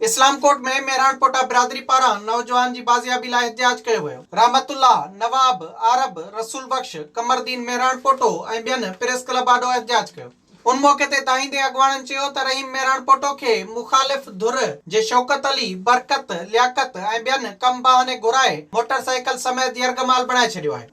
اسلام ڪوٽ ۾ مهراڻ پوٽا برادري پاران نوجوان جي بازيابي لاء احتجاج ڪيو ويو. رحمت الله، نواب، عارب، رسول بخش، قمردين مهراڻ پوٽو ۽ ٻين پريس ڪلب آڏو احتجاج ڪيو. ان موقعي تي دانهيندي اڳواڻن چيو ته رحيم مهراڻ پوٽو کي مخالف ڌر جي شوڪت علي، برڪت، لياقت ۽ ٻين ڪم باهاني گهرائي موٽر سائيڪل سميت يرغمال بڻائي ڇڏيو آهي.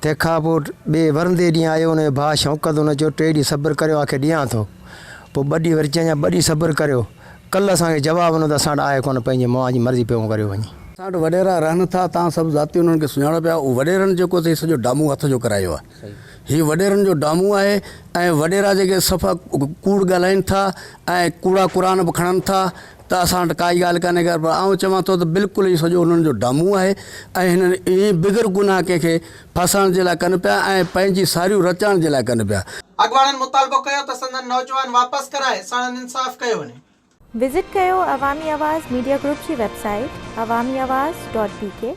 تنهن کان پوء ٻئي ورندي ڏينهن آيو ان جو ڀاء شوڪت ان چيو ٽي ڏينهن صبر ڪريو آء کي ڏيان ٿو پوء ٻه ڏينهن وري چيائين ٻه ڏينهن صبر ڪريو ڪل اسان کي جواب نه ته اسان وٽ آء ڪونه پنهنجي مئا جي مرضي پيو ڪريو وڃي. اسان وٽ وڏيرا رهن ٿا تان سڀ ذاتي انهن کي سڃاڻو پيا اهو وڏيرن جيڪو اٿئي سڄو ڊامو هٿ جو ڪرايو آهي هي وڏيرن جو ڊامو آهي ۽ وڏيرا جيڪي صفا ڪوڙ ڳالهائين ٿا ۽ ڪوڙا قرآن به کڻن ٿا ته اسان وٽ ڪائي ڳالهه ڪانهي خير پر آئون چوان ٿو ته بلڪل هي سڄو انهن جو ڊامون آهي ۽ هنن ائين بغير گناهه ڪنهن کي ڦاسائڻ جي لاء ڪن پيا ۽ پنهنجي ساريون رچائڻ جي لاء ڪن پيا. اڳواڻن مطالبو ڪيو ته سندن نوجوان واپس ڪرائي ساڻن انصاف ڪيو وڃي. وزٽ ڪيو عوامي آواز ميڊيا گروپ جي website Awami Awaz dot بي ڪي.